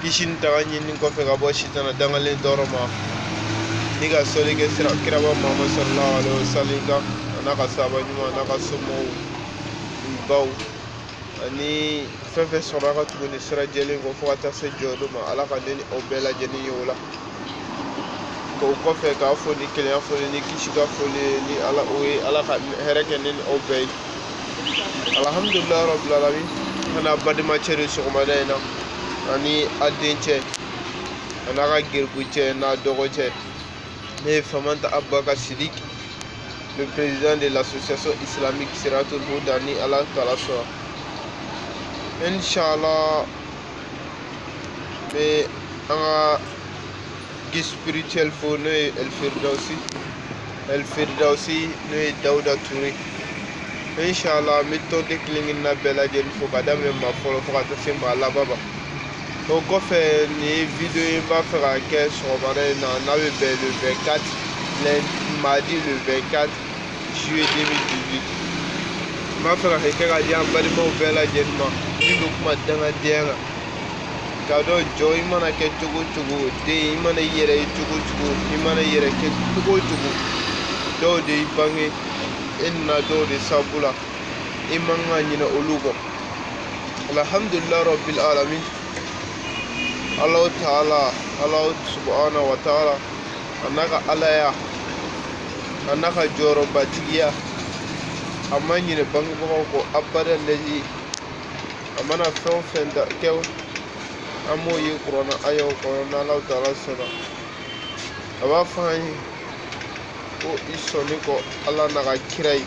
kisi ni tanga ɲini kɔfɛ ka bɔ sitana dangalen tɔɔrɔ ma ni ka sɔli kɛ sira kiraba mamadu sallallahu alaihi wasallam kan a n'a ka saba ɲuman a n'a ka somɔgɔbaw ani fɛn fɛn sɔrɔla ka tugu nin sira jɛlen kɔ fo ka taa se jɔdon ma ala ka ne ni aw bɛɛ lajɛlen ye o la ko o kɔfɛ k'aw fo ni kelenya foli kisi ka foli la o ye ala ka hɛrɛ kɛ ne ni aw bɛɛ ye alhamdulilayi rabil alamin ka n'a badenmacɛ de sɔgɔmada in na ani a dencɛ a n'a ka garibucɛ n'a dɔgɔcɛ ne ye famanta abubakar sidik le président de l'association islamique siratul huda ni ala taala sɔnna inchallah bɛ an ka guide spirituel fo n'o ye El Firdausi El Firdausi n'o ye Dawuda Ture inshallah n bɛ tɔnden kelen kelenna bɛɛ lajɛlen fo ka daminɛ maa fɔlɔ fo ka taa se maa laban ma o kɔfɛ nin ye video ye n b'a fɛ ka kɛ sɔgɔmada in na n'a bɛ bɛn le 24 mardi le 24 juillet 2018 n b'a fɛ ka kɛ ka di an balimaw bɛɛ lajɛlen ma min bɛ kuma dangadenya kan k'a dɔn jɔn i mana kɛ cogo o cogo den i mana i yɛrɛ ye cogo o cogo i mana i yɛrɛ kɛ cogo o cogo dɔw de y'i bange e nana dɔw de sabu la i man ka ɲinɛ olu kɔ alhamdulilayi rabbil alamin alahu taala alahu subahana wa taala a n'a ka alaya a n'a ka jɔyɔrɔbatigiya a ma ɲinɛ bangebagaw kɔ abada lɛzi a mana fɛn o fɛn da kɛ an b'o ye kuranna ayaw kɔnɔ n'alahu taala sɔnna a b'a fɔ an ye ko i sɔnni kɔ ala n'a ka kira ye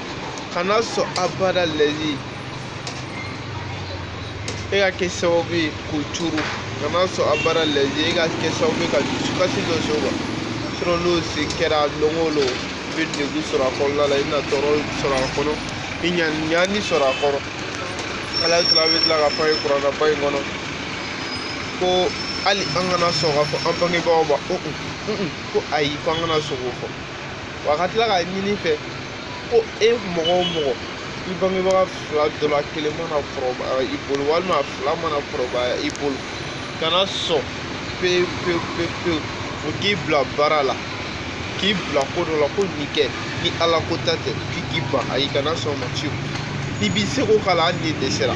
kana sɔn abada lɛzi e ka kɛ sababu ye k'u tɔɔrɔ kana sɔn abada lɛzi e ka kɛ sababu ye ka dusukasi dɔ s'o ma sinɔn n'o se kɛra don o don i bɛ degun sɔrɔ a kɔnɔna la i bɛna tɔɔrɔ sɔrɔ a kɔnɔ i na ɲani sɔrɔ a kɔrɔ ala taala bɛ tila k'a fɔ an ye kuranaba in kɔnɔ ko hali an kana sɔn k'a fɔ an bangebaaw ma ko ayi ko an kana sɔn k'o fɔ wa ka tila k'a ɲini i fɛ ko e mɔgɔ o mɔgɔ i bangebaga fila dɔ la kelen mana kɔrɔbaya i bolo walima fila mana kɔrɔbaya i bolo kana sɔn pewu pewu pewu pewu o k'i bila baara la k'i bila ko dɔ la ko nin kɛ ni ala ko ta tɛ k'i k'i ban ayi kana sɔn o ma fiyewu i b'i seko k'a la hali n'i dɛsɛra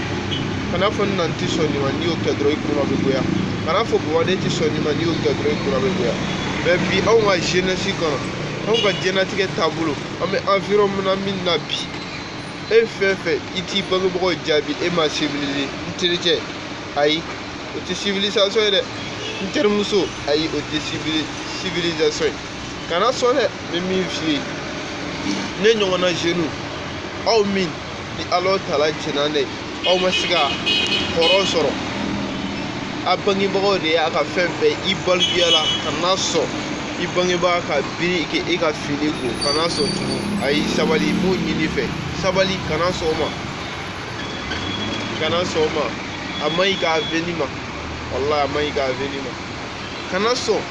kana fɔ n na n tɛ sɔn nin ma n'i y'o kɛ dɔrɔn i kunna bɛ goya kana fɔ baba ne tɛ sɔn nin ma n'i y'o kɛ dɔrɔn i kunna bɛ goya mais bi anw ka jeunesse kɔnɔ anw ka diɲɛlatigɛ taabolo an bɛ environnement min na bi e fɛn fɛn i t'i bangebagaw jaabi e ma civiliser n terikɛ ayi o tɛ civilisation ye dɛ n terimuso ayi o tɛ civilisation ye kana sɔn dɛ n bɛ min f'i ye ne ɲɔgɔnna jeunes aw min ni ala tala jɛnna n'a ye aw ma se ka hɔrɔn sɔrɔ a bangebagaw de y'a ka fɛn bɛɛ i balikuya la kana sɔn i bangebaga ka biri k'e ka fini ko kana sɔn tugun ayi sabali n b'o ɲini i fɛ sabali kana sɔn o ma kana sɔn o ma a man ɲi i ka avenir ma walahi a man ɲi i ka avenir ma kana sɔn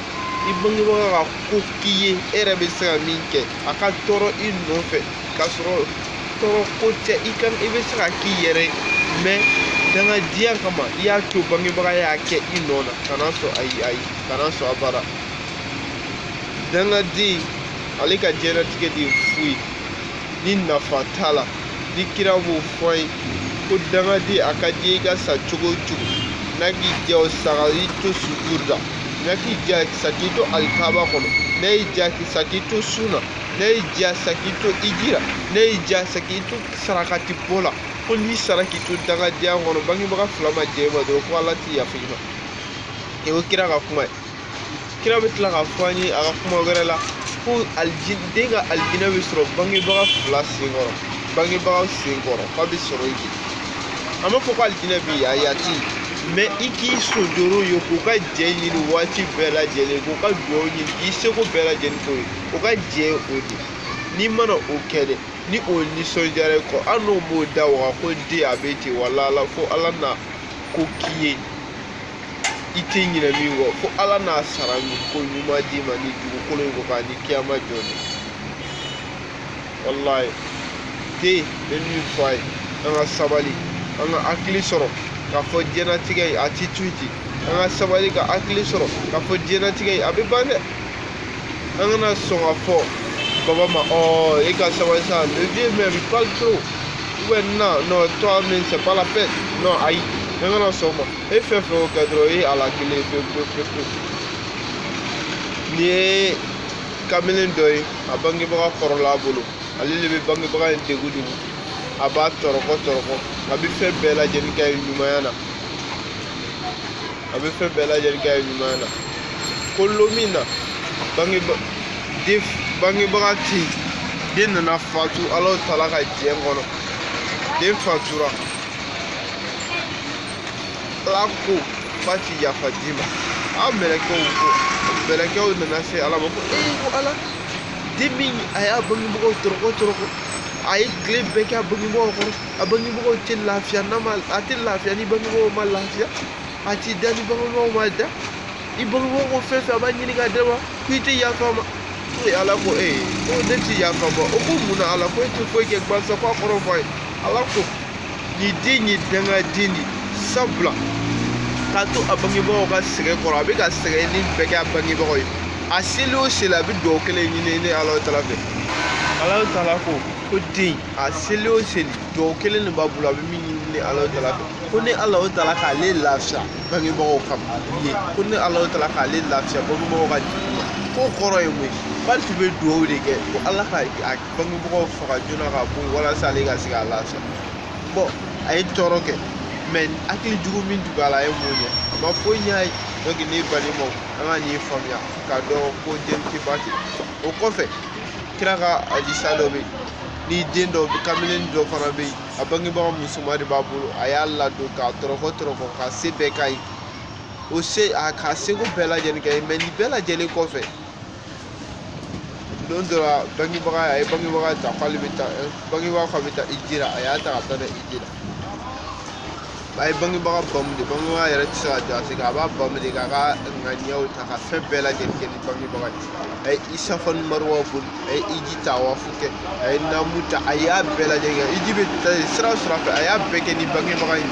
i bangebaga ka ko k'i ye e yɛrɛ bɛ se ka min kɛ a ka tɔɔrɔ i nɔfɛ k'a sɔrɔ tɔɔrɔ ko tɛ i ka i bɛ se k'a k'i yɛrɛ ye mais dangadenya kama i y'a to bangebaga y'a kɛ i nɔ na kana sɔn ayi ayi kana sɔn abada dangaden ale ka diɲɛlatigɛ de ye fu ye ni nafa t'a la ni kira b'o fɔ an ye ko dangaden a ka di i ka sa cogo o cogo n'a k'i diya sa ka i to sujudu la n'a k'i diya sa k'i to alikaba kɔnɔ n'a y'i diya sa k'i to sun na n'a y'i diya sa k'i to hiji la n'a y'i diya sa k'i to sarakati bɔ la ko n'i sara k'i to dangadenya kɔnɔ bangebaga fila ma jɛn i ma dɔrɔn ko ala ti yafa i ma o ye kira ka kuma ye kira bɛ tila k'a fɔ an ye a ka kuma wɛrɛ la ko den ka alijinɛ bɛ sɔrɔ bangebaga fila sen kɔrɔ bangebagaw sen kɔrɔ k'a bɛ sɔrɔ yen a ma fɔ ko alijinɛ bɛ yen ayi a tɛ yen mais i k'i sonsoro yen k'u ka jɛn ɲini waati bɛɛ lajɛlen k'u ka dugawu ɲini k'i seko bɛɛ lajɛlen k'u ye u ka jɛn o de n'i mana o kɛ dɛ ni o nisɔndiyara i kɔ hali n'o m'o da waga ko den a bɛ ten wala ala fo ala na ko k'i ye i tɛ ɲinɛ min kɔ fo ala n'a sara ko ɲuman d'i ma ni dugukolo in kɔ kan ani kiyama jɔ de walayi dɛ n bɛ min fɔ aw ye an ka sabali an ka hakili sɔrɔ k'a fɔ diɲɛlatigɛ in a ti to yen ten an ka sabali ka hakili sɔrɔ k'a fɔ diɲɛlatigɛ in a bɛ ban dɛ an kana sɔn ka fɔ baba ma ɔ e ka sabali sa le vieux même il parle trop ouais non non toi même c'est pas la peine non ayi an kana sɔn o ma e fɛn fɛn o kɛ dɔrɔn e halakilen pewu pewu pewu pewu nin ye kamalen dɔ ye a bangebaga kɔrɔla a bolo ale de bɛ bangebaga in degun degun a b'a tɔrɔkɔ tɔrɔkɔ a bɛ fɛn bɛɛ lajɛlen kɛ ɲumanya na a bɛ fɛn bɛɛ lajɛlen kɛ a ɲuman na ko don min na bangeba den bangebaga tɛ yen den nana fatu ala taala ka diɲɛ kɔnɔ den fatura ala ko k'a ti yafa den ma a mɛlɛkɛw ko mɛlɛkɛw nana se ala ma ko ee ko ala den min a y'a bangebagaw tɔrɔkɔ tɔrɔkɔ a ye tile bɛɛ kɛ a bangebagaw kɔrɔ a bangebagaw tɛ lafiya n'a ma a tɛ lafiya ni bangebagaw ma lafiya a t'i da ni bangebagaw ma da i bangebagaw ko fɛn fɛn a b'a ɲini ka d'a ma ko i tɛ yafa a ma ko ala ko ee eh, ko ne tɛ yafa ma o ko mun na ala ko e tɛ foyi kɛ gbansan ko a kɔrɔ fɔ a ye ala ko nin den ye dangaden de sabula k'a to a bangebagaw ka sɛgɛn kɔrɔ a bɛ ka sɛgɛn nin bɛɛ kɛ a bangebagaw ye a seli o seli a bɛ dugawu kelen ɲini ne ala tala fɛ ala tala ko ko den a seli o seli dugawu kelen de b'a bolo a bɛ min ɲini ne ala tala fɛ ko ne ala o tala k'ale lafiya bangebagaw ka ye ko ne ala o tala k'ale lafiya bangebagaw ka jigin ma k'o kɔrɔ ye mun ye k'ale tun bɛ dugawu de kɛ ko ala ka a bangebagaw faga joona ka bɔ yen walasa ale ka se ka lafiya bɔn a ye tɔɔrɔ kɛ mɛ hakili jugu min tun b'a la a ye mun kɛ a ma foyi ɲ'a ye dɔnke ne balimaw an ka nin faamuya k'a dɔn ko den tɛ ba tɛ o kɔfɛ kira ka hadisa dɔ bɛ yen ni den dɔ kamalen dɔ fana bɛ yen a bangebaga musoman de b'a bolo a y'a ladon k'a tɔrɔkɔ tɔrɔkɔ k'a se bɛɛ k'a ye o se a k'a seko bɛɛ lajɛlen kɛ mɛ nin bɛɛ lajɛlen kɔfɛ don dɔ la bangebaga a ye bangebaga ta k'ale bɛ taa bangebaga k'a bɛ taa hiji la a y'a ta ka taa n'a ye hiji la a ye bangebaga bamu de bangebaga yɛrɛ tɛ se ka jɔ a sen kan a b'a bamu de k'a ka ŋaniyaw ta ka fɛn bɛɛ lajɛlen kɛ ni bangebaga ye a ye safa ni maruwa boli a ye hiji tawafu kɛ a ye namu ta a y'a bɛɛ lajɛlen kɛ hiji bɛ taa sira o sira fɛ a y'a bɛɛ kɛ ni bangebaga in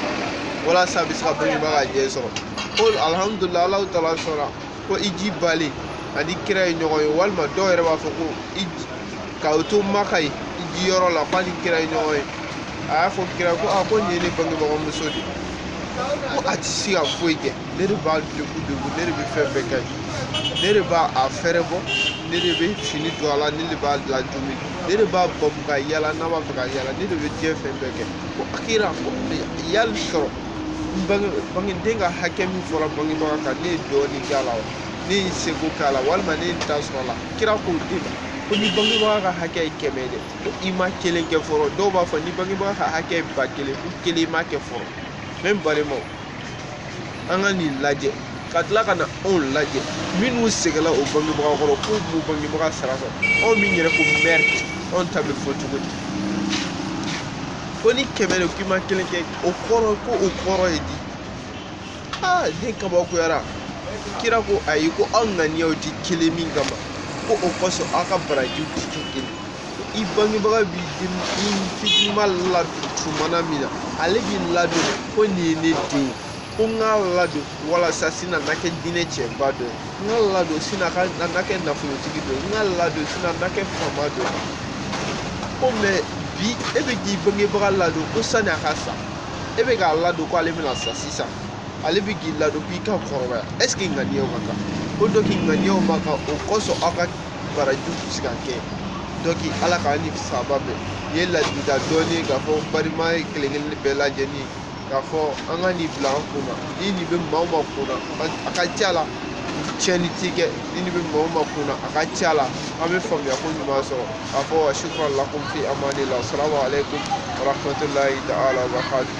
walasa a bɛ se ka bangebaga jɛn sɔrɔ ko alihamudulilayi ala taala sɔnna ko hiji bannen a ni kira ye ɲɔgɔn ye walima dɔw yɛrɛ b'a fɔ ko k'u to maka yen hiji yɔrɔ la k'a ni kira ye ɲɔgɔn ye a y'a fɔ kira ko a ko nin ye ne bangebaga muso de ye ko a tɛ se ka foyi kɛ ne de b'a degun degun ne de bɛ fɛn bɛɛ kɛ ne de b'a a fɛɛrɛ bɔ ne de bɛ fini don a la ne de b'a ladumuni ne de b'a bamu ka yala n'a b'a fɛ ka yala ne de bɛ diɲɛ fɛn bɛɛ kɛ ko a kira ko yali sɔrɔ bangeden ka hakɛ min fɔra bangebaga kan ne ye dɔɔnin k'a la wa ne ye seko k'a la walima ne ye n ta sɔrɔ a la kira ko den ma ko ni bangebaga ka hakɛ ye kɛmɛ ye dɛ ko i ma kelen kɛ fɔlɔ dɔw b'a fɔ ni bangebaga ka hakɛ ye ba kelen ko kelen i ma kɛ fɔlɔ ne balimaw an ka nin lajɛ ka tila ka na anw lajɛ minnu sɛgɛnla u bangebaga kɔrɔ k'u m'u bangebaga sara sɔrɔ anw min yɛrɛ ko mɛri anw ta bɛ fɔ cogo di ko ni kɛmɛ de k'i ma kelen kɛ o kɔrɔ ko o kɔrɔ ye di aa den kabakoyara kira ko ayi ko aw ŋaniyaw tɛ kelen min kama ko o kosɔn aw ka barajiw tɛ kɛ kelen i bangebaga b'i den i fitinima ladon tuma na min na ale b'i ladon ko nin ye ne den ye ko n k'a ladon walasa sini a na kɛ diinɛ cɛba dɔ ye n k'a ladon sini a ka na kɛ nafolotigi dɔ ye n k'a ladon sini a na kɛ faama dɔ ye ko mɛ bi e bɛ k'i bangebaga ladon ko sani a ka sa e bɛ k'a ladon ko ale bɛna sa sisan ale bɛ k'i ladon k'i ka kɔrɔbaya ɛseke ŋaniyaw ka kan ko dɔnki ŋaniyaw man kan o kosɔn aw ka baraji tɛ se ka kɛ dɔnki ala k'an ni saba bɛn ye ladilikan dɔɔni k'a fɔ balima kelen kelen bɛɛ lajɛlen k'a fɔ an ka nin bila an kunna ni nin bɛ maa o maa kunna a ka ca la tiɲɛni ti kɛ ni nin bɛ maa o maa kunna a ka ca la an bɛ faamuya ko ɲuman sɔrɔ k'a fɔ wa sukuran lakum fi amanila asalamu aleykum wa rahmatulahi ta'ala wa barakatuh